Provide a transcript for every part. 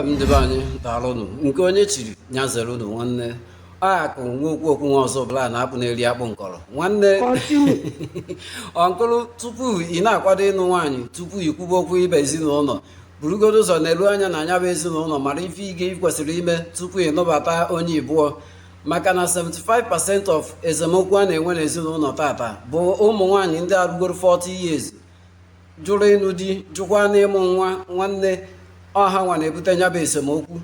ndị be anyị daalụ nụ nke onye chiri nya zere unu nwanne akụ nwa okwu okwu nwa Ọzụbụlụ na-akpụ na-eri akpụ nkọrọ nwanne ọnkụrụ tupu ị na-akwado ịnụ nwaanyị tupu ị kwube okwu ịba ezinụlọ burugodo ụzọ nelu anya na nya bụ ezinụlọ mara ife ị ga- ị kwesịrị ime tupu ị nụbata onye ibụọ maka na 75% of esemokwu a na-enwe n'ezinụlọ taata bụ ụmụ nwaanyị ndị erugoro 40 years jụrụ ịnụ di jụkwa n'ịmụ nwa nwanne ọ hanwa na-ebute nya bụ esemokwu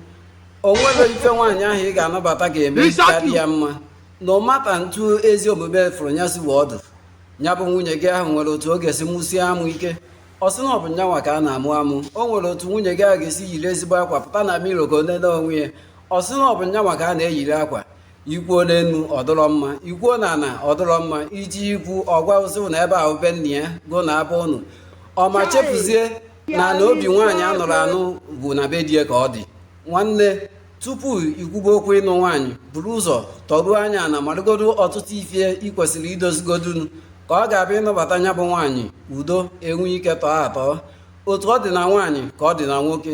o nwere ife nwaanyị ahụ ị ga-anụbata ga-eme ka dị ya mma na ọmata ntu ezi omume fụrụ ya si wee ọdụ nya bụ nwunye gị ahụ nwere otu ọ ga-esi mụsie amụ ike ọ sị na ọ bụ nyanwa ka a na-amụ amụ o nwere otu nwunye gị ahụ ga-esi yiri ezigbo akwa pụta na mirror ka o nene onwe ya ọ sị na ọ bụ nyanwa ka a na-eyiri akwa i kwuo n'enu ọ dụrọ mma i kwuo na ana ọ dụrọ mma i je ikwu ọ gwa ụ sị na ebe ahụ be nna ya go na abụ ụnụ ọma chefuzie na ana obi nwaanyị a nụrụ anụ bụ na be di e ka ọ dị nwanne tupu ị kwube okwu ịnụ nwaanyị buru ụzọ tọruo anya ana marụgodo ọtụtụ ife ị kwesịrị idozigodunu ka ọ ga-abụ ị nụbata nya bụ nwaanyị udo enwee ike tọọ atọ otu ọ dị na nwaanyị ka ọ dị na nwoke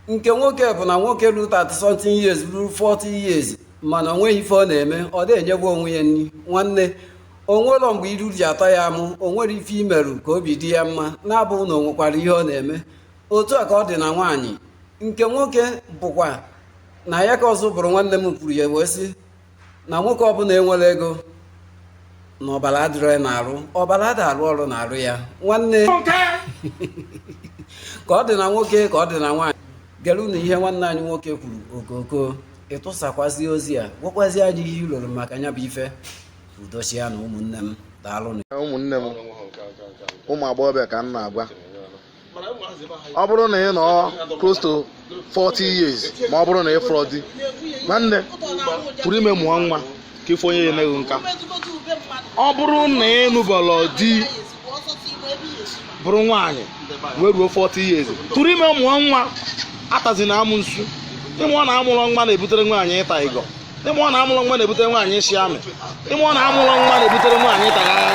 nke nwoke bụ na nwoke ruru 30 something years ruru 40 years mana o nweghị ife ọ na-eme ọ dị enyebe onwe ya nri nwanne o nwero mgbe iru ji atọ ya amụ o nwere ife i merụ ka obi dị ya mma na-abụghị na o nwekwara ihe ọ na-eme otu a ka ọ dị na nwaanyị nke nwoke bụkwa na ya ka ọzọ bụrụ nwanne m kwuru ya wee sị na nwoke ọ bụla enwero ego na ọbara adịrọ ya n'arụ ọbara ada arụ ọrụ n'arụ ya nwanne ka ọ dị na nwoke ka ọ dị na nwaanyị gerenụ ihe nwanne anyị nwoke kwuru okoko ị tụsakwazi ozi a gwakwazi anyị ihe i loro maka nya bụ ife udo chịa na ụmụnne m daalụnụ ụmụnne m ụmụ agbọghọbịa ka m na-agwa ọ bụrụ na ị nọ close to 40 years ma ọ bụrụ na ị fụrọ di nwanne tụrụ ime mụọ nwa ka ife onye ya emeghị nka ọ bụrụ na ị nụbọrọ di bụrụ nwaanyị wee ruo 40 years tụrụ ime mụọ nwa atazina amụnsu ị ma na amụrọ nwa na-ebutere nwaanyị ịta ịgọ ị ma na amụrọ nwa na-ebutere nwaanyị ịshị amị ị ma na amụrọ nwa na-ebutere nwaanyị ịta